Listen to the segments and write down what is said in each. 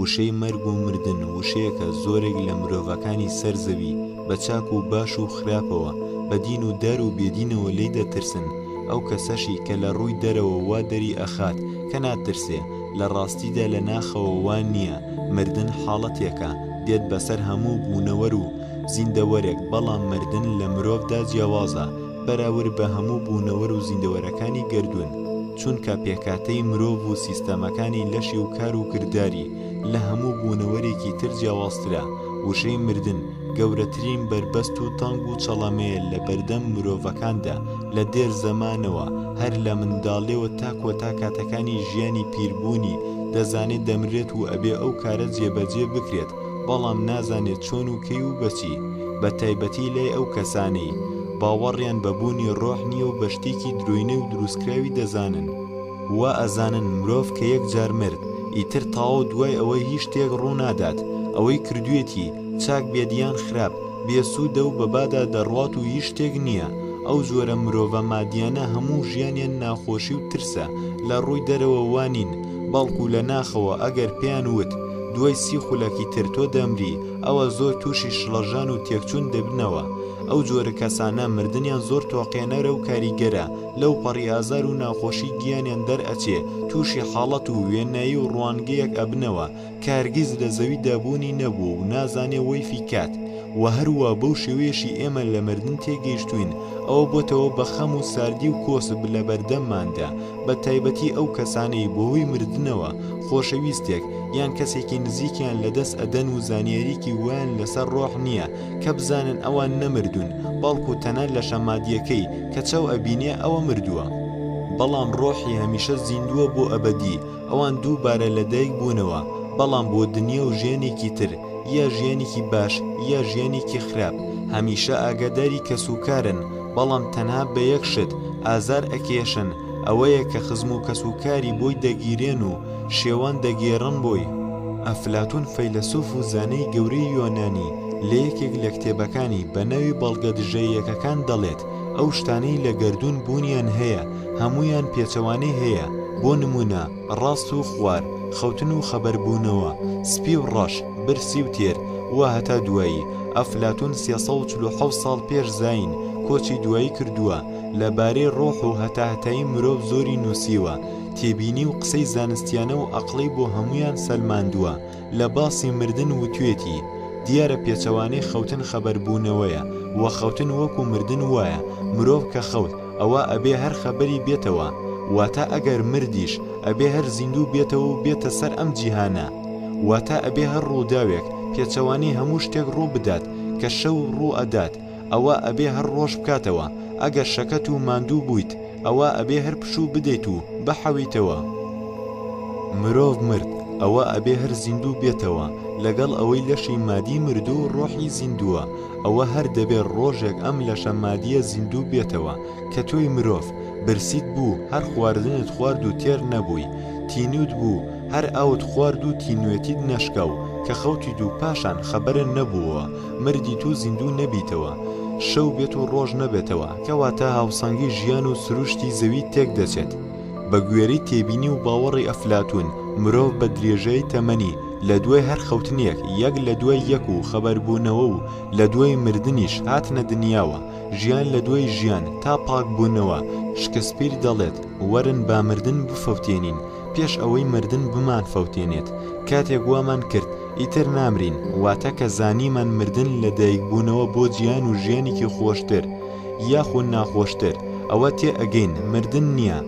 وشەی مەرگ و مردن وشەیەکە زۆرێک لە مرۆڤەکانی سەر زەوی بە چاک و باش و خراپەوە بە دین و دار و بێدینەوە لی دەترسن ئەو کەسەشی کە لە ڕووی دەرەوە وا دەری ئەخات کە ناترسێ لە ڕاستیدا لە ناخەوە وان نییە مردن حاڵەتێکە دێت بەسەر هەموو بوونەوەر و زیندەوەرێک، بەڵام مردن لە مرۆڤدا جیاوازە بەراورد بە هەموو بوونەوەر و زیندەوەرەکانی گەردوون، چونکە پێکهاتەی مرۆڤ و سیستەمەکانی لەشی و کار و کرداری لە هەموو بوونەوەرێکی تر جیاوازترە، وشەی مردن گەورەترین بەربەست و تەنگ و چەڵەمەیە لە بەردەم مرۆڤەکاندا لە دێر زەمانەوە هەر لە منداڵیەوە تا کۆتا کاتەکانی ژیانی پیربوونی دەزانێت دەمرێت و ئەبێ ئەو کارە جێبەجێ بکرێت، بەڵام نازانێت چۆن و کەی و بە چی، بە تایبەتی لای ئەو کەسانەی، باوەڕیان بە بوونی ڕۆح نییە و بە شتێکی درۆینەی و دروستکراوی دەزانن. وا ئەزانن مرۆڤ کە یەک جار مرد، ئیتر تاوە و دوای ئەوە هیچ شتێک ڕوو نادات، ئەوەی کردوویەتی، چاک بێت یان خراپ، بێ سوودە و بەبادا دەڕوات و هیچ شتێک نییە، ئەو جۆرە مرۆڤە مادییانە هەموو ژیانیان ناخۆشی و ترسە، لە ڕووی دەرەوە وا نین، بەڵکو لە ناخەوە ئەگەر پێیان وت دوای سی خولەکی تر تۆ دەمری، ئەوا زۆر تووشی شڵەژان و تێکچوون دەبنەوە، ئەو جۆرە کەسانە مردنیان زۆر تۆقێنەرە و کاریگەرە، لەوپەڕی ئازار و ناخۆشی گیانیان دەرئەچێ، تووشی حاڵەت و وێنایی و ڕوانگەیەک ئەبنەوە، کە هەرگیز لە زەوی دا بوونی نەبووە و نازانێ وەی فیکات وە هەروا بەو شێوەیەشی ئێمە لە مردن تێگەیشتووین ئەوە بۆتەوە بە خەم و ساردی و کۆسپ لە بەردەمماندا بە تایبەتی ئەو کەسانەی بە هۆی مردنەوە خۆشەویستێک یان کەسێکی نزیکیان لە دەست ئەدەن و زانیاریەکی وایان لەسەر ڕۆح نیە کە بزانن ئەوان نەمردوون بەڵکو تەنە لەشە مادیەکەی کە چاو ئەبینێ ئەوە مردووە بەڵام ڕۆحی هەمیشە زیندووە بۆ ئەبەدی. ئەوان دووبارە لە دایک بوونەوە بەڵام بۆ دنیا و ژیانێکی تر یا ژیانێکی باش یا ژیانێکی خراپ هەمیشە ئاگاداری کەس و کارن بەڵام تەنها بە یەک شت ئازار ئەکێشن ئەوەیە کە خزم و کەس و کاری بۆی دەگیرێن و شێوان دەگێڕن بۆی. ئەفلاتون فەیلەسوف و زانای گەورەی یۆنانی لە یەکێک لە کتێبەکانی بە ناوی بەڵگە دژە یەکەکان دەڵێت ئەو شتانەی لە گەردوون بوونیان هەیە هەموویان پێچەوانەی هەیە، بۆ نموونە، ڕاست و خوار، خەوتن و خەبەربوونەوە، سپی و ڕەش، برسی و تێر، و هەتا دوایی، ئەفلاتوون سێ سەد و چل و حەوت ساڵ پێش زایین کۆچی دوایی کردووە، لە بارەی ڕۆح و هەتاهەتایی مرۆڤ زۆری نووسیوە، تێبینی و قسەی زانستیانە و ئەقڵی بۆ هەموویان سەلماندووە، لە باسی مردن وتوێتی، دیارە پێچەوانەی خەوتن خەبەربوونەوەیە، وە خەوتن وەکو مردن وایە، مرۆڤ کە خەوت ئەوا ئەبێ هەر خەبەری بێتەوە، واتە ئەگەر مردیش ئەبێ هەر زیندوو بێتەوە و بێتە سەر ئەم جیهانە، واتە ئەبێ هەر ڕووداوێک پێچەوانەی هەموو شتێک ڕوو بدات کە شەو ڕوو ئەدات، ئەوا ئەبێ هەر ڕۆژ بکاتەوە ئەگەر شەکەت و ماندوو بوویت ئەوا ئەبێ هەر پشوو بدەیت و بحەویتەوە مرۆڤ مرد ئەوا ئەبێ هەر زیندوو بێتەوە لەگەڵ ئەوەی لەشی مادی مردوو و ڕۆحی زیندووە ئەوە هەر دەبێ ڕۆژێک ئەم لەشە مادیە زیندوو بێتەوە کە تۆی مرۆڤ برسیت بوو هەر خواردنت خوارد و تێر نەبووی تینووت بوو هەر ئاوت خوارد و تینوێتیت نەشکاو کە خەوتیت و پاشان خەبەرن نەبووە مردیت و زیندوو نەبیتەوە، شەو بێت و ڕۆژ نەبێتەوە، کەواتە هاوسەنگی ژیان و سروشتی زەوی تێک دەچێت. بە گوێرەی تێبینی و باوەڕی ئەفلاتوون، مرۆڤ بە درێژایی تەمەنی، لە دوای هەر خەوتنێک، یەک لە دوای یەک و خەبەربوونەوە و لە دوای مردنیش، هاتنە دنیاوە، ژیان لە دوای ژیان، تا پاکبوونەوە، شکسپیر دەڵێت، وەرن با مردن بفەوتێنین، پێش ئەوەی مردن بمانفەوتێنێت، کاتێک وامان کرد ئیتر نامرین، واتە کە زانیمان مردن لە دایکبوونەوە بۆ جیهان و ژیانێکی خۆشتر یاخو ناخۆشتر، ئەوە تێ ئەگەین مردن نییە.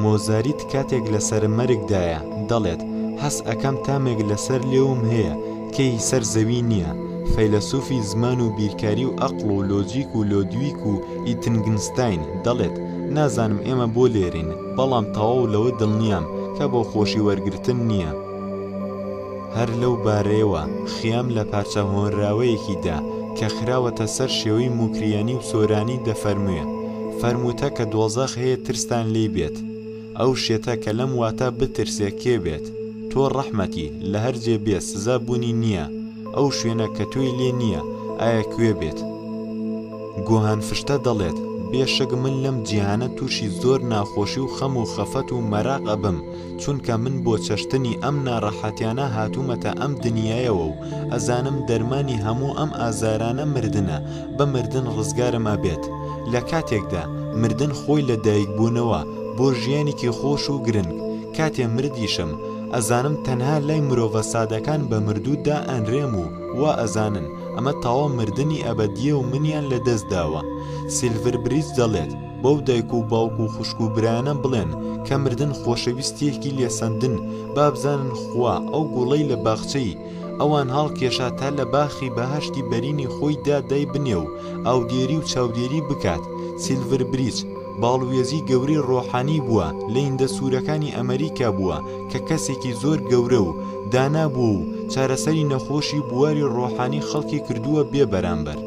مۆزاریت کاتێک لەسەر مەرگدایە، دەڵێت، هەست ئەکەم تامێک لەسەر لێوم هەیە کەی سەر زەوی نییە. فەیلەسوفی زمان و بیرکاری و ئەقڵ و لۆجیک و لۆدویک و ئیتنگنستاین، دەڵێت، نازانم ئێمە بۆ لێرەین، بەڵام تەواو لەوە دڵنیام کە بۆ خۆشی وەرگرتن نییە. هەر لەو بارەیەوە خیام لە پارچە هۆنراوەیەکی دا کە خراوەتە سەر شێوەی موکریانی و سۆرانی دەفەرموێ، فەرمووتە کە دۆزەخ هەیە ترستان لێی بێت، ئەو شێتە کە لەم واتا بترسێ کێ بێت، تۆ ڕەحمەتی، لە هەر جێ بێ سزا بوونی نییە، ئەو شوێنە کە تۆی لێ نییە، ئایا کوێ بێت؟ گوهان فرشتە دەڵێت، بێ شک من لەم جیهانە تووشی زۆر ناخۆشی و خەم و خەفەت و مەراق ئەبم، چونکە من بۆ چەشتنی ئەم ناڕەحەتیانە هاتوومەتە ئەم دنیایەوە و ئەزانم دەرمانی هەموو ئەم ئازارانە مردنە، بە مردن ڕزگارم ئەبێت. لە کاتێکدا مردن خۆی لە دایک بوونەوە بۆ ژیانێکی خۆش و گرنگ، کاتێ مردیشم ئەزانم تەنها لای مرۆڤە سادەکان بە مردوو دا ئەنرێم و وا ئەزانن، ئەمە تاوا مردنی ئەبەدییە و منیان لە دەست داوە. سیلڤر بریج دەڵێت، بەو دایک و باوک و خوشک و برایانە بڵێن کە مردن خۆشەویستییەکی لێسەندن، با بزانن خوا ئەو گوڵەی لە باخچەی ئەوان هاڵکێشا تا لە باخی بەهەشتی بەرینی خۆی دا دای بنێ و ئاودێری و چاودێری بکات. سیلڤر بریج. باڵوێزی گەورەی ڕۆحانی بووە لەیندە سورەکانی ئەمەریکا بووە کە کەسێکی زۆر گەورە و دانا بووە و چارەسەری نەخۆشی بواری ڕۆحانی خەڵکی کردووە بێ بەرامبەر.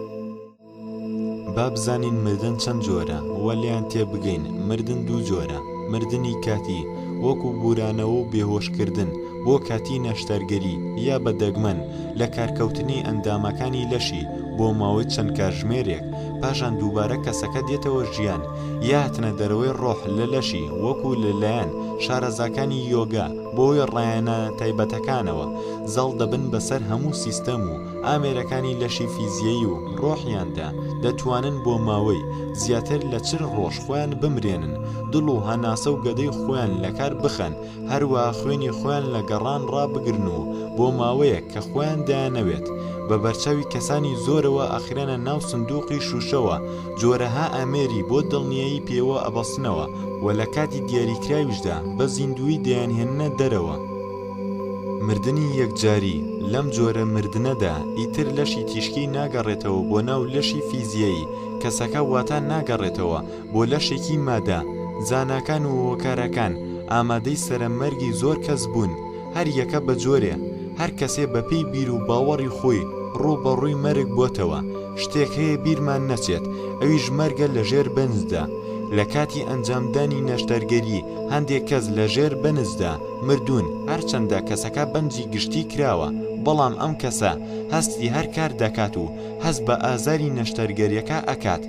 با بزانین مردن چەند جۆرە و لێیان تێبگەین، مردن دوو جۆرە، مردنی کاتی، وەکو بورانەوە و بێهۆشکردن بۆ کاتی نەشتەرگەری یا بە دەگمەن لە کارکەوتنی ئەندامەکانی لەشی بۆ ماوەی چەند کاتژمێرێک، پاشان دووبارە کەسەکە دێتەوە ژیان یا هەتنە دەرەوەی ڕۆح لە لەشی وەکو لەلایەن شارەزاکانی یۆگا بۆی ڕایەنە تایبەتەکانەوە زاڵ دەبن بەسەر هەموو سیستەم و ئامێرەکانی لەشی فیزیەی و ڕۆحیاندا دەتوانن بۆ ماوەی زیاتر لە چل ڕۆژ خۆیان بمرێنن دڵ و هەناسە و گەدەی خۆیان لەکار بخەن هەروا خوێنی خۆیان لە گەڕان ڕابگرن و بۆ ماوەیەک کە خۆیان دەیانەوێت بە بەرچاوی کەسانی زۆرەوە ئەخرێنە ناو سندوقی شوشەوە جۆرەها ئامێری بۆ دڵنیایی پێوە ئەبەستنەوە و لە کاتی دیاریکراویشدا بە زیندووی دەیانهێننە دەرەوە. مردنی یەکجاری، لەم جۆرە مردنەدا ئیتر لەشی تیشکی ناگەڕێتەوە بۆ ناو لەشی فیزیایی کەسەکە واتا ناگەڕێتەوە بۆ لەشێکی مادە زاناکان و هۆکارەکان ئامادەی سەرە مەرگی زۆر کەس بوون هەر یەکە بە جۆرێ هەر کەسێ بە پێی بیر و باوەڕی خۆی ڕوو بە ڕووی مەرگ بۆتەوە شتێک هەیە بیرمان نەچێت ئەویش مەرگە لە ژێر بەنزدا لە کاتی ئەنجام دانی نەشتەرگەری هەندێک کەس لە ژێر بەنزدا مردوون هەر چەندە کەسەکە بەنزی گشتی کراوە بەڵام ئەم کەسە هەستی هەر کار دەکات و هەست بە ئازاری نەشتەرگەریەکە ئەکات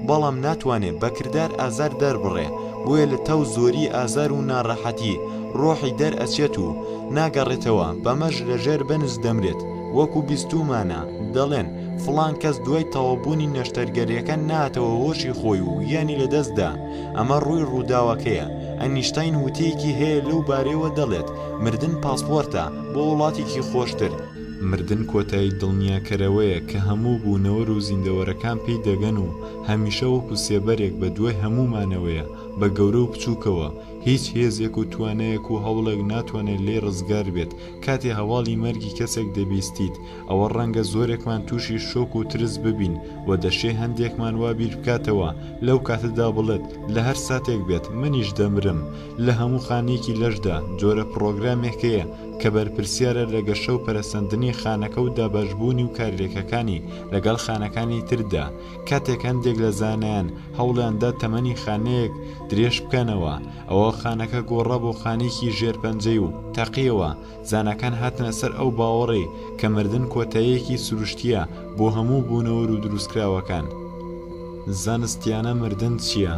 بەڵام ناتوانێ بە کردار ئازار دەربڕێ، بۆیە لە تاو زۆری ئازار و ناڕەحەتی ڕۆحی دەرئەچێت و ناگەڕێتەوە، بەمەش لە ژێر بەنج دەمرێت، وەکو بیستوومانە دەڵێن فڵان کەس دوای تەواوبوونی نەشتەرگەریەکە نەهاتەوە هۆشی خۆی و گیانی لەدەستدا، ئەمە ڕووی ڕووداوەکەیە، ئەنیشتاین وتەیەکی هەیە لەو بارەیەوە دەڵێت مردن پاسپۆرتە بۆ وڵاتێکی خۆشتر، مردن کۆتایی دڵنیاکەرەوەیە کە هەموو بوونەوەر و زیندەوەرەکان پێی دەگەن و هەمیشە وەکو سێبەرێک بە دوای هەموومانەوەیە بە گەورە و بچووکەوە، هیچ هێزێک و توانایەک و هەوڵێک ناتوانێت لێی ڕزگار بێت، کاتێ هەواڵی مەرگی کەسێک دەبیستیت ئەوە ڕەنگە زۆرێکمان تووشی شۆک و ترس ببین و دەشێ هەندێکمان وا بیر بکاتەوە لەو کاتەدا بڵێت لە هەر ساتێک بێت منیش دەمرم، لە هەموو خانەیەکی لەشدا جۆرە پڕۆگرامێک هەیە کە بەرپرسیارە لە گەشە و پەرەسەندنی خانەکە و دابەشبوونی و کارلێکەکانی لەگەڵ خانەکانی تردا، کاتێک هەندێک لە زانایان هەوڵیان دا تەمەنی خانەیەک درێژ بکەنەوە، ئەوا خانەکە گۆڕا بۆ خانێکی ژێر پەنجەی و تەقییەوە، زاناکان هاتنە سەر ئەو باوەڕەی کە مردن کۆتاییەکی سروشتییە بۆ هەموو بوونەوەر و دروستکراوەکان. زانستییانە مردن چییە؟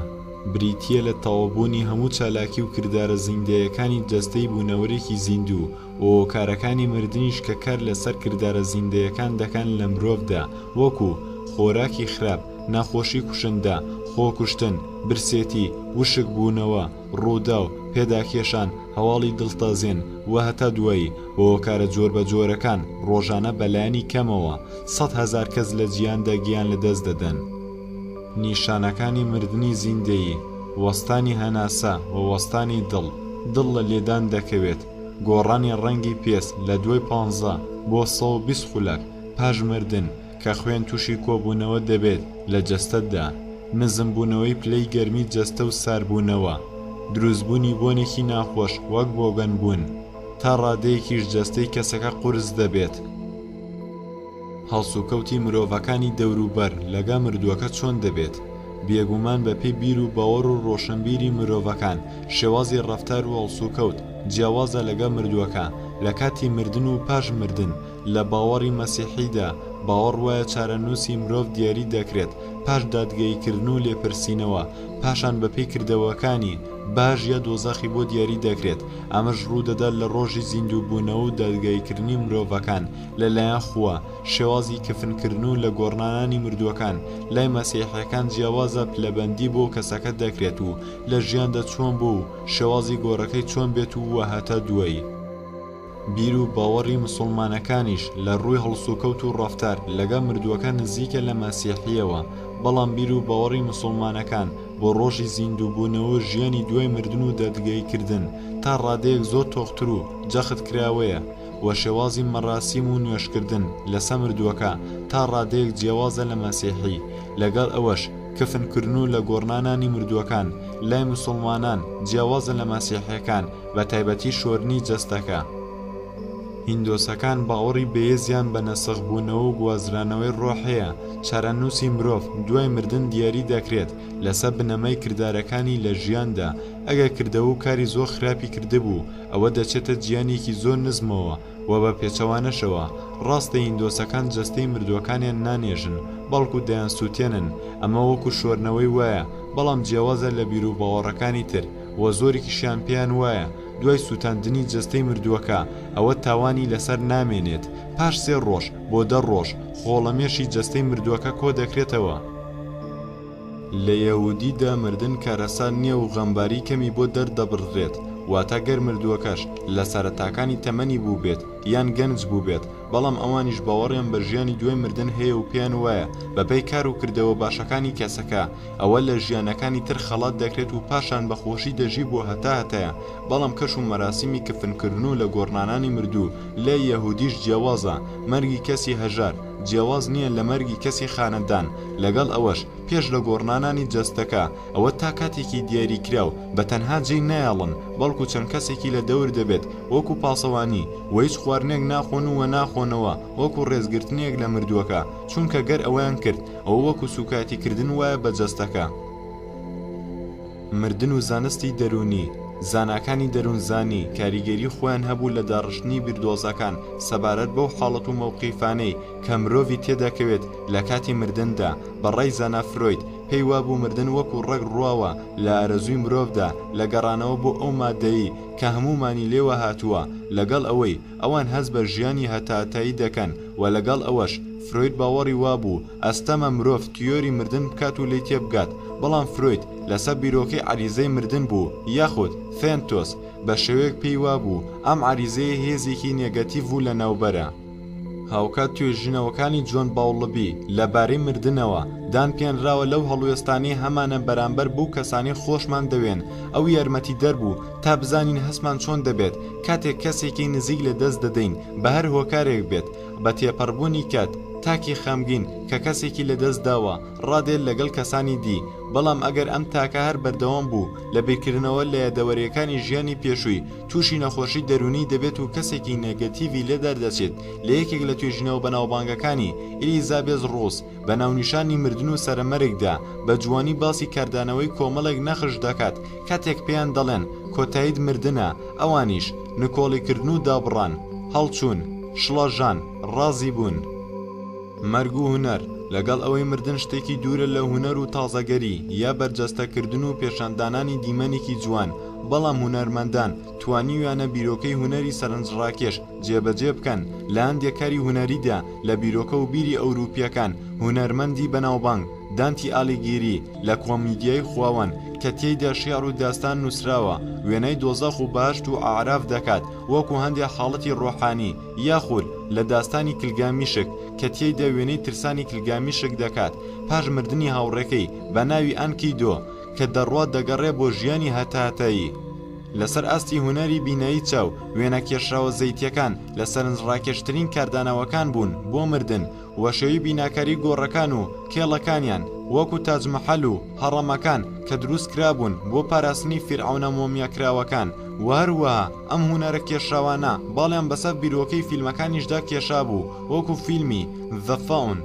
بریتییە لە تەواوبوونی هەموو چالاکی و کردارە زیندەیەکانی جەستەی بوونەوەرێکی زیندوو و هۆکارەکانی مردنیش کە کار لەسەر کردارە زیندەیەکان دەکەن لە مرۆڤدا وەکو، خۆراکی خراپ، نەخۆشی کوشندە، خۆکوشتن، برسێتی، وشکبوونەوە، ڕووداو، پێداکێشان، هەواڵی دڵتەزێن و هەتا دوایی و هۆکارە جۆربەجۆرەکان ڕۆژانە بەلایەنی کەمەوە سەد هەزار کەس لە جیهاندا گیان لەدەست دەدەن. نیشانەکانی مردنی زیندەیی، وەستانی هەناسە و وەستانی دڵ، دڵ لە لێدان دەکەوێت، گۆڕانی ڕەنگی پێست لە دوای پانزە بۆ سەد و بیست خولەک پاش مردن کە خوێن تووشی کۆبوونەوە دەبێت لە جەستەتدا، نزمبوونەوەی پلەی گەرمی جەستە و ساربوونەوە، دروستبوونی بۆنێکی ناخۆش وەک بۆگەنبوون، تا ڕادەیەکیش جەستەی کەسەکە قورس دەبێت. هەڵسوکەوتی مرۆڤەکانی دەوروبەر لەگە مردووەکە چۆن دەبێت؟ بێگومان بەپێی بیر و باوەڕ و ڕۆشەنبیری مرۆڤەکان شێوازی ڕەفتار و هەڵسوکەوت جیاوازە لەگە مردووەکە لە کاتی مردن و پاش مردن، لە باوەڕی مەسیحیدا باوەڕ وایە چارەنووسی مرۆڤ دیاری دەکرێت پاش دادگەییکردن و لێپرسینەوە پاشان بەپێی کردەوەکانی باش یا دۆزەخی بۆ دیاری دەکرێت ئەمەش ڕوودەدات لە ڕۆژی زیندووبوونەوە و دادگاییکردنی مرۆڤەکان لە لایەن خوا، شێوازی کفن کردن و لە گۆڕنانانی مردووەکان، لای مەسیحیەکان جیاوازە پلەبەندی بۆ کەسەکە دەکرێت و لە ژیاندا چۆن بووە و شێوازی گۆڕەکەی چۆن بێت و وە هەتا دوایی. بیر و باوەڕی مسوڵمانەکانیش لە ڕووی هەڵسوکەوت و ڕەفتار لەگەڵ مردووەکان نزیکە لە مەسیحیەوە، بەڵام بیر و باوەڕی مسوڵمانەکان بۆ ڕۆژی زیندوو بوونەوە و ژیانی دوای مردن و دادگایی کردن تا ڕادەیەک زۆر تۆختر و جەخت کراوەیە و شێوازی مەراسیم و نوێژکردن لەسە مردووەکە تا ڕادەیەک جیاوازە لە مەسیحی، لەگەڵ ئەوەش کفن کرن و لە گۆڕنانانی مردووەکان لای مسوڵمانان جیاوازە لە مەسیحیەکان بە تایبەتی شۆرنی جەستەکە. هیندۆسەکان باوەڕی بەیزیان بە نەسخ بوونەوە و گوازرانەوەی ڕۆح هەیە، چارەنووسی مرۆڤ دوای مردن دیاری دەکرێت لەسە بنەمای کردارەکانی لە ژیاندا، ئەگەر کردەوە و کاری زۆر خراپی کردبوو، ئەوە دەچێتە جیانێکی زۆر نزمەوە و بە پێچەوانەشەوە، ڕاستە هیندۆسەکان جەستەی مردووەکانیان نانێژن، بەڵکو دەیانسووتێنن، ئەمە وەکو شۆرنەوەی وایە، بەڵام جیاوازە لە بیروباوەڕەکانی تر و زۆرێکیشیان پێیان وایە دوای سووتاندنی جەستەی مردووەکە ئەوە تاوانی لەسەر نامێنێت، پاش سێ ڕۆژ بۆ دە ڕۆژ خۆڵەمێشی جەستەی مردووەکە کۆدەکرێتەوە. لە یەهودی دا مردن کارەسات نییە و غەمباری کەمی بۆ دەردەبڕدرێت، واتە گەر مردووەکەش لە سەرەتاکانی تەمەنی بووبێت یان گەنج بووبێت، بەڵام ئەوانیش باوەڕیان بە ژیانی دوای مردن هەیە و پێیان وایە بەپێی کار و کردەوە باشەکانی کەسەکە ئەوە لە ژیانەکانی تر خەڵات دەکرێت و پاشان بە خۆشی دەژی بۆ هەتا هەتایە بەڵام کەش و مەراسیمی کفنکردن و لەگۆڕنانانی مردوو لای یەهودیش جیاوازە مەرگی کەسی هەژار جیاواز نییە لە مەرگی کەسی خانەدان، لەگەڵ ئەوەش پێش لە گۆڕنانانی جەستەکە ئەوە تا کاتێکی دیاری کراو بە تەنها جێی نایەڵن بەڵکو چەند کەسێکی لە دەور دەبێت وەکو پاسەوانی وە هیچ خواردنێک ناخۆن و وە ناخۆنەوە وەکو ڕێزگرتنێک لە مردووەکە چونکە گەر ئەوەیان کرد ئەوە وەکو سوکایەتی کردن وایە بە جەستەکە. مردن و زانستی دەروونی، زاناکانی دەروونزانی کاریگەری خۆیان هەبوو لە داڕشتنی بیردۆزەکان سەبارەت بەو حاڵەت و مەوقیفانەی کە مرۆڤی تێدەکەوێت لە کاتی مردندا، بە ڕای زانا فرۆید پێی وابوو مردن وەکو ڕەگ ڕواوە لە ئارەزووی مرۆڤدا لە گەڕانەوە بۆ ئەو مادەی کە هەموومانی لێوە هاتووە لەگەڵ ئەوەی ئەوان هەست بە ژیانی هەتاهەتایی دەکەن و لەگەڵ ئەوەش، فرۆید باوەڕی وابوو ئەستەمە مرۆڤ تیۆری مردن بکات و لێی تێبگات، بەڵام فرۆید لەسەر بیرۆکەی عەریزەی مردن بوو یاخود، ثێنتۆس، بە شێوەیەک پێی وابوو ئەم عەریزەیە هێزێکی نێگەتیڤ و لەناوبەرە. هاوکات توێژینەوەکانی جۆن باولبی لەبارەی مردنەوە، دان پێنراوە لەو هەڵوێستانەی هەمانە بەرامبەر بەو کەسانەی خۆشمان دەوێن، ئەو یارمەتیدەر بوو، تا بزانین هەستمان چۆن دەبێت کاتێک کەسێکی نزیک لە دەست دەدەین بە هەر هۆکارێک بێت بە تێپەڕبوونی کات تاکی خەمگین کە کەسێکی لە دەست داوە ڕادێت لەگەڵ کەسانی دی بەڵام ئەگەر ئەم تاکە هەر بەردەوام بوو لە بیرکردنەوە لە یادەوەریەکانی ژیانی پێشووی تووشی نەخۆشی دەروونی دەبێت و کەسێکی نێگەتیڤی لێ دەردەچێت لە یەکێک لە توێژینەوە بەناوبانگەکانی ئیلیزابێس ڕۆس بە ناونیشانی مردن و سەرەمەرگدا بە جوانی باسی کاردانەوەی کۆمەڵێک نەخش دەکات کاتێک پێیان دەڵێن کۆتایت مردنە ئەوانیش نکۆڵیکردن و دابڕان هەڵچوون شڵەژان ڕازی بوون مەرگ و هونەر، لەگەڵ ئەوەی مردن شتێکی دوورە لە هونەر و تازەگەری یا بەرجەستەکردن و پێشاندانانی دیمەنێکی جوان، بەڵام هونەرمەندان توانیویانە بیرۆکەی هونەری سەرنجڕاکێش جێبەجێ بکەن، لە هەندێک کاری هونەریدا لە بیرۆکە و بیری ئەوروپییەکان، هونەرمەندی بەناوبانگ، دانتی ئالیگیری، لە کۆمیدیای خواوەند، کە تێیدا شیعر و داستان نووسراوە، وێنای دۆزەخ و بەهەشت و ئەعراف دەکات، وەکو هەندێک حاڵەتی ڕۆحانی، یاخود، لە داستانی کلگامیشک، کە تێیدا وێنەی ترسانی کلگامیشک دەکات، پاش مردنی هاوڕێکەی، بە ناوی ئانکیدۆ، کە دەڕوات دەگەڕێ بۆ ژیانی هەتاهەتایی. لەسەر ئاستی هونەری بینایی چاو، وێنە کێشراوە زەیتییەکان لە سەرنجڕاکێشترین کاردانەوەکان بوون بۆ مردن و شێوەی بیناکاری گۆڕەکان و کێڵەکانیان، وەکو تاج مەحەل و هەڕەمەکان کە دروستکرابوون بۆ پاراستنی فیرعەونە مۆمیاکراوەکان و هەروەها ئەم هونەرە کێشراوانە باڵیان بەسەر بیرۆکەی فیلمەکانیشدا کێشابوو وەکو فیلمی The Faun.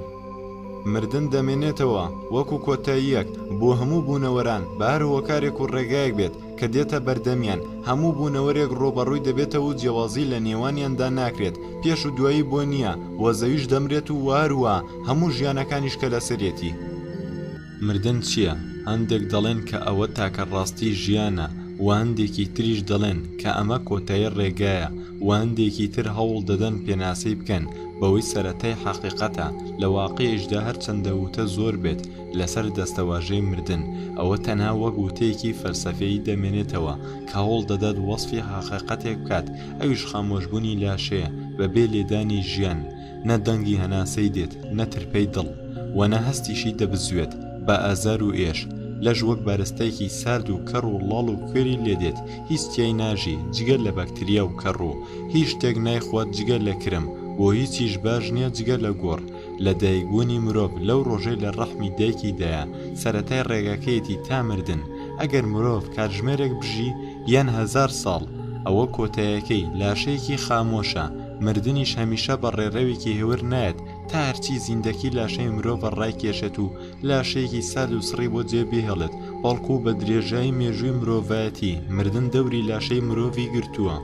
مردن دەمێنێتەوە وەکو کۆتاییەک بۆ هەموو بوونەوەران بە هەر هۆکارێک و ڕێگایەک بێت، کە دێتە بەردەمیان، هەموو بوونەوەرێک ڕووبەڕووی دەبێتەوە و جیاوازی لە نێوانیاندا ناکرێت، پێش و دوایی بۆ نییە و زەویش دەمرێت و هەروەها هەموو ژیانەکانیش کە لەسەرێتی. مردن چییە؟ هەندێک دەڵێن کە ئەوە تاکە ڕاستیی ژیانە و هەندێکی تریش دەڵێن کە ئەمە کۆتایی ڕێگایە و هەندێکی تر هەوڵ دەدەن پێناسەی بکەن بەوەی سەرەتای حەقیقەتە، لە واقیعیشدا هەرچەندە وتە زۆر بێت، لەسەر دەستەواژەی مردن، ئەوە تەنها وەک وتەیەکی فەلسەفیی دەمێنێتەوە، کە هەوڵ دەدات وەسفی هەقیقەتێک بکات، ئەویش خامۆشبوونی لاشەیە، بەبێ لێدانی ژیان، نە دەنگی هەناسەی دێت، نە ترپەی دڵ، و نە هەستیشی دەبزوێت، بە ئازار و ئێش، لەش وەک بارستایەکی سارد و کەڕ و ڵاڵ و کوێری لێدێت، هیچ تیای ناژی، جگە لە بەکتریا و کەڕوو، هیچ شتێک نایخوات جگە لە کرم، بۆ هیچیش باش نییە جگە لە گۆڕ، لە دایکبوونی مرۆڤ لەو ڕۆژەی لە ڕەحمی دایکی دایە سەرەتای ڕێگاکەیەتی تا مردن، ئەگەر مرۆڤ کاتژمێرێک بژی یان هەزار ساڵ ئەوە کۆتایەکەی، لاشەیەکی خامۆشە، مردنیش هەمیشە بە ڕێڕەوێکی هێور نایەت تا هەرچی زیندەکی لاشەی مرۆڤە ڕایکێشێت و لاشەیەکی سارد و سڕی بۆ جێ بهێڵێت بەڵکو بە درێژایی مێژووی مرۆڤایەتی مردن دەوری لاشەی مرۆڤی گرتووە.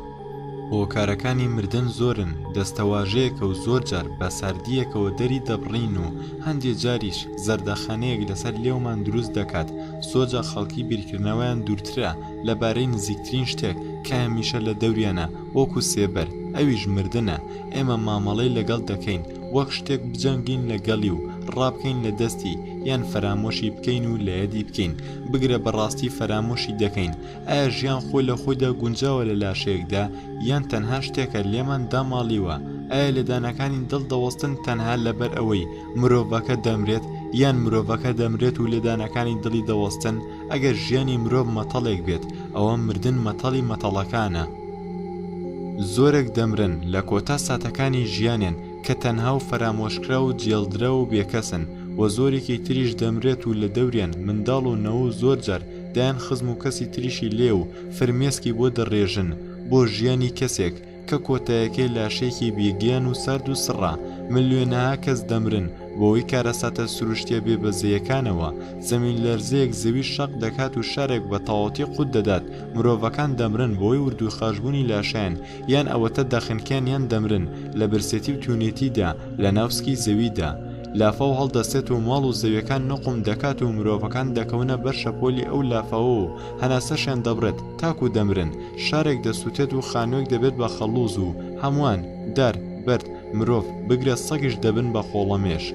هۆکارەکانی مردن زۆرن دەستەواژەیەکە و زۆر جار بە ساردییەکەوە دەری دەبڕین و هەندێ جاریش زەردەخەنەیەک لەسەر لێومان دروست دەکات زۆرجا خەڵکی بیرکردنەوەیان دوورترە لە بارەی نزیکترین شتێک کە هەمیشە لە دەوریانە وەکو سێبەر ئەویش مردنە ئێمە مامەڵەی لەگەڵ دەکەین وەک شتێک بجەنگین لەگەڵی و ڕابکەین لە دەستی یان فەرامۆشی بکەین و لەیەدی بکەین بگرە بەڕاستی فەرامۆشی دەکەین ئایا ژیان خۆی لە خۆیدا گونجاوە لە لاشەیەکدا یان تەنها شتێکە لێمان داماڵیوە ئایا لێدانەکانی دڵ دەوەستن تەنها لەبەر ئەوەی مرۆڤەکە دەمرێت یان مرۆڤەکە دەمرێت و لێدانەکانی دڵی دەوەستن ئەگەر ژیانی مرۆڤ مەتەڵێک بێت ئەوە مردن مەتەڵی مەتەڵەکانە زۆرێک دەمرن لە کۆتا ساتەکانی ژیانێن کە تەنها و فەرامۆشکرا و جێڵدرا و بێکەسن و زۆرێکی تریش دەمرێت و لە دەوریان منداڵ و نەوە و زۆر جار دەیان خزم و کەسی تریشی لێ و فرمێسکی بۆ دەڕێژن بۆ ژیانی کەسێک کە کۆتایەکەی لاشەیەکی بیگیان و سارد و سڕە ملیۆنەها کەس دەمرن بۆی کارەساتە سروشتیە بێ بەزەیەکانەوە زەمین لەرزەیەک زەوی شەق دەکات و شارێک بە تەواوەتی قوت دەدات مرۆڤەکان دەمرن بۆی وردوو خاشبوونی لاشیان یان ئەوەتە دەخنکێن یان دەمرن لە برسێتی و تونێتیدا لە ناوسکی زەویدا لافاو هەڵدەستێت و ماڵ و زەویەکان نوقم دەکات و مرۆڤەکان دەکەونە بەر شەپۆلی ئەو لافاوە و هەناسەشیان دەبڕێت تاکو دەمرن شارێک دەسوتێت و خانوێک دەبێت بە خەڵوز و هەموان، دار، بەرد، مرۆڤ، بگرە سەگیش دەبن بە خۆڵەمێش.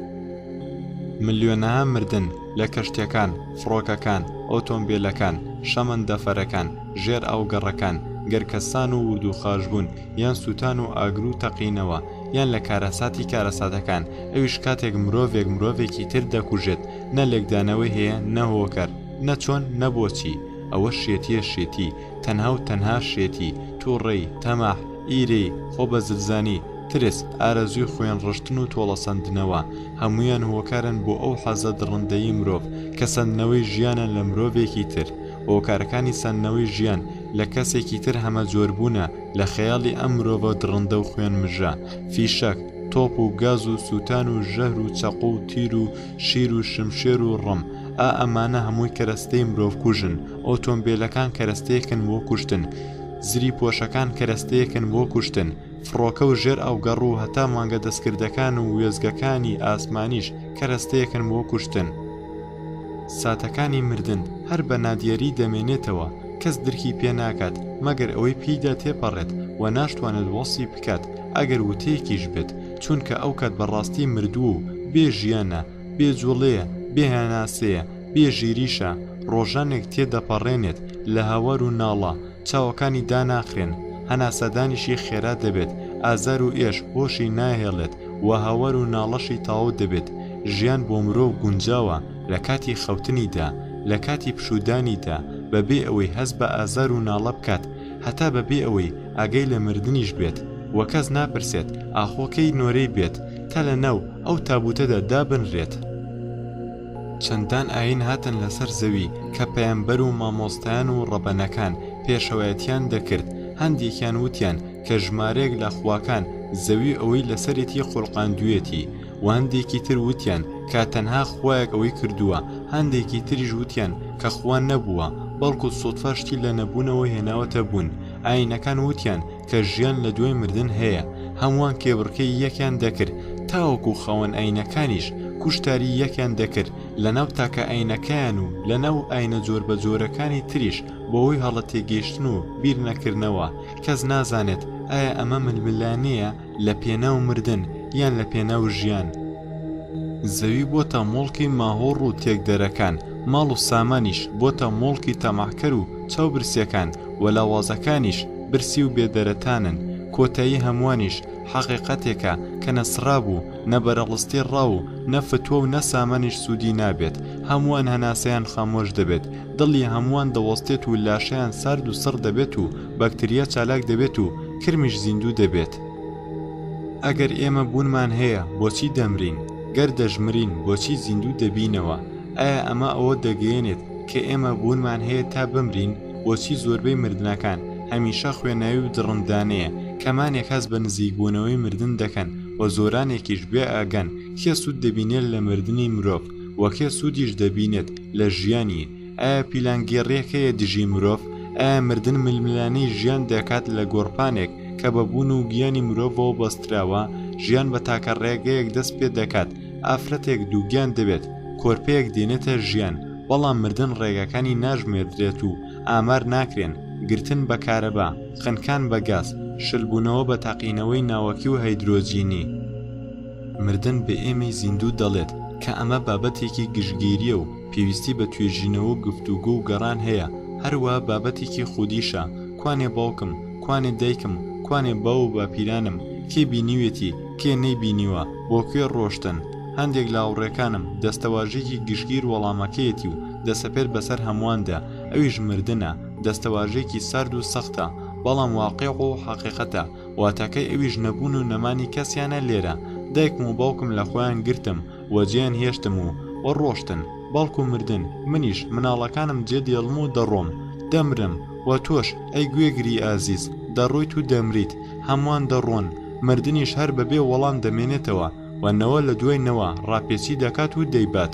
ملیۆنەها مردن لە کەشتیەکان، فڕۆکەکان، ئۆتۆمبیلەکان، شەمەندەفەرەکان، ژێر ئاو گەڕەکان، گەرکەسان و وردوخاش بوون یان سوتان و ئاگرو تەقینەوە، یان لە کارەساتی کارەساتەکان ئەویش کاتێک مرۆڤێک مرۆڤێکی تر دەکوژێت نە لێکدانەوەی هەیە نەهۆکەر نەچۆن نەبۆچی ئەوە شێتیە شێتی تەنها و تەنها شێتی تووڕێی تەماع ئیرەی خۆ بە زلزانی ترس ئارەزووی خوێن ڕشتن و تۆڵەسەندنەوە هەمویان هۆکارن بۆ ئەو حەزە دڕندەی مرۆڤ کە سندنەوەی ژیانە لە مرۆڤێکی تر هۆکارەکانی سندنەوەی ژیان لە کەسێکی تر هەمە جۆربوونە لە خەیاڵی ئەم مرۆڤە دڕندە و خوێن مژە، فیشەک، تۆپ و گاز و سووتان و ژەهر و چەقۆ و تیر و شیر و شمشێر و ڕم، ئا ئەمانە هەمووی کەرەستەی مرۆڤکوژن، ئۆتۆمبێلەکان کەرەستەیەکن بۆ کوشتن، زریپۆشەکان کەرەستەیەکن بۆ کوشتن، فڕۆکە و ژێرئاوگەڕ و هەتا مانگە دەستکردەکان و وێستگەکانی ئاسمانیش کەرەستەیەکن بۆ کوشتن. ساتەکانی مردن هەر بە نادیەری دەمێنێتەوە. کەس درکی پێ ناکات مەگەر ئەوەی پێیدا تێپەڕێت و ناشتوانێت وەسی بکات ئەگەر وتەیەکیش بێت چونکە ئەو کات بەڕاستی مردووە و بێ ژیانە بێ جوڵەیە بێ هەناسەیە بێ ژیریشە ڕۆژانێک تێدەپەڕێنێت لە هەوار و ناڵە چاوەکانی داناخرێن هەناسەدانیشی خێرا دەبێت ئازار و ئێش هۆشی ناهێڵێت و هەوار و ناڵەشی تاو دەبێت ژیان بۆ مرۆڤ گونجاوە لە کاتی خەوتنیدا، لە کاتی پشوودانیدا، بەبێ ئەوەی هەست بە ئازار و ناڵە بکات، هەتا بەبێ ئەوەی ئاگای لە مردنیش بێت، و کەس ناپرسێت ئاخۆ کەی نۆرەی بێت، تا لەناو ئەو تابووتەدا دابنرێت. چەندان ئایین هاتن لەسەر زەوی کە پەیامبەر و مامۆستایان و ڕەبەنەکان پێشەوایەتییان دەکرد، هەندێکیان وتیان کە ژمارەیەک لە خواکان زەوی و ئەوەی لەسەرێتی خولقاندوویەتی، وهەندێکی تر وتیان کە تەنها خوایەک ئەوەی کردووە، هەندێکی تریش وتیان کە خوا نەبووە، بەڵکو سوتفە شتی لە نەبوونەوە هێناوەتە بوون، ئاینەکان وتیان کە ژیان لە دوای مردن هەیە، هەمووان کێبڕکێی یەکیان دەکرد تاوەکو خاوەن ئاینەکانیش کوشتاری یەکیان دەکرد لەناو تاکە ئاینەکەیان و لەناو ئاینە جۆربەجۆرەکانی تریش بەهۆی هەڵە تێگەیشتن و بیر نەکردنەوە کەس نازانێت ئایا ئەمە ململانێیە لە پێناو مردن یان لە پێناو ژیان زەوی بۆتە مۆڵکی ماهۆڕ و تێکدەرەکان ماڵ و سامانیش بۆتە مۆڵکی تەماحکەر و چاو برسیەکان و لاوازەکانیش برسی و بێدەرەتانن کۆتایی هەموانیش حەقیقەتێکە کە نەسڕابوو نە بەرەڵستی ڕا و نە فتوە و نە سامانیش سودی نابێت هەموان هەناسەیان خامۆش دەبێت دڵی هەموان دەوەستێت و لاشەیان سارد و سڕ دەبێت و بەکتریا چالاک دەبێت و کرمیش زیندوو دەبێت ئەگەر ئێمە بوونمان هەیە بۆچی دەمرین گەر دەژمرین بۆچی زیندوو دەبینەوە ئایا ئەمە ئەوە دەگەیەنێت کە ئێمە بوونمان هەیە تا بمرین بۆچی زۆربەی مردنەکان هەمیشە خوێناوی و دڕندانەیە کەمانێک هەست بە نزیکبوونەوەی مردن دەکەن و زۆرانێکیش بێئاگان کێ سوود دەبینێت لە مردنی مرۆڤ و کێ سوودیش دەبینێت لە ژیانی ئایا پیلانگێڕیەک هەیە دژی مرۆڤ؟ ئایا مردن ململانێی ژیان دەکات لە گۆڕپانێک کە بە بوون و گیانی مرۆڤەوە بەستراوە، ژیان بە تاکە ڕێگەیەک دەست پێ دەکات، ئافرەتێک دووگیان دەبێت، کۆرپەیەک دێنێتە ژیان، بەڵام مردن ڕێگاکانی ناژمێردرێت و ئامار ناکرێن، گرتن بە کارەبا، خنکان بە گاز، شلبوونەوە بە تەقینەوەی ناوەکی و هەیدرۆجینی. مردن بە ئێمەی زیندوو دەڵێت کە ئەمە بابەتێکی گشتگیرییە و، پێویستی بە توێژینەوە و گفتوگۆ و گەڕان هەیە، هەروا بابەتێکی خودیشە، کوانێ باوکم، کوانێ دایکم، کوانێ باو و باپیرانم، کێ بینیوێتی، کێ نەیبینیوە، بۆ کوێ ڕۆشتن، هەندێک لە هاوڕێکانم، دەستەواژەیەکی گشتگیر وەڵامەکەیەتی و دەسەپێت بەسەر هەموواندا، ئەویش مردنە، دەستەواژەیەکی سارد و سەختە، بەڵام واقیع و حەقیقەتە، واتاکەی ئەویش نەبوون و نەمانی کەسیانە لێرە، دایکم و باوکم لە خۆیان گرتم، و جێیان هێشتم و و ڕۆشتن، بەڵکو مردن، منیش مناڵەکانم جێ دێڵم و دەڕۆم، دەمرم، و تۆش، ئەی گوێگری ئازیز، دەڕۆیت و دەمریت، هەمووان دەڕۆن، مردنیش هەر بەبێ وەڵام دەمێنێتەوە، و نەوە لە دوای نەوە ڕاپێچی دەکات و دەیبات.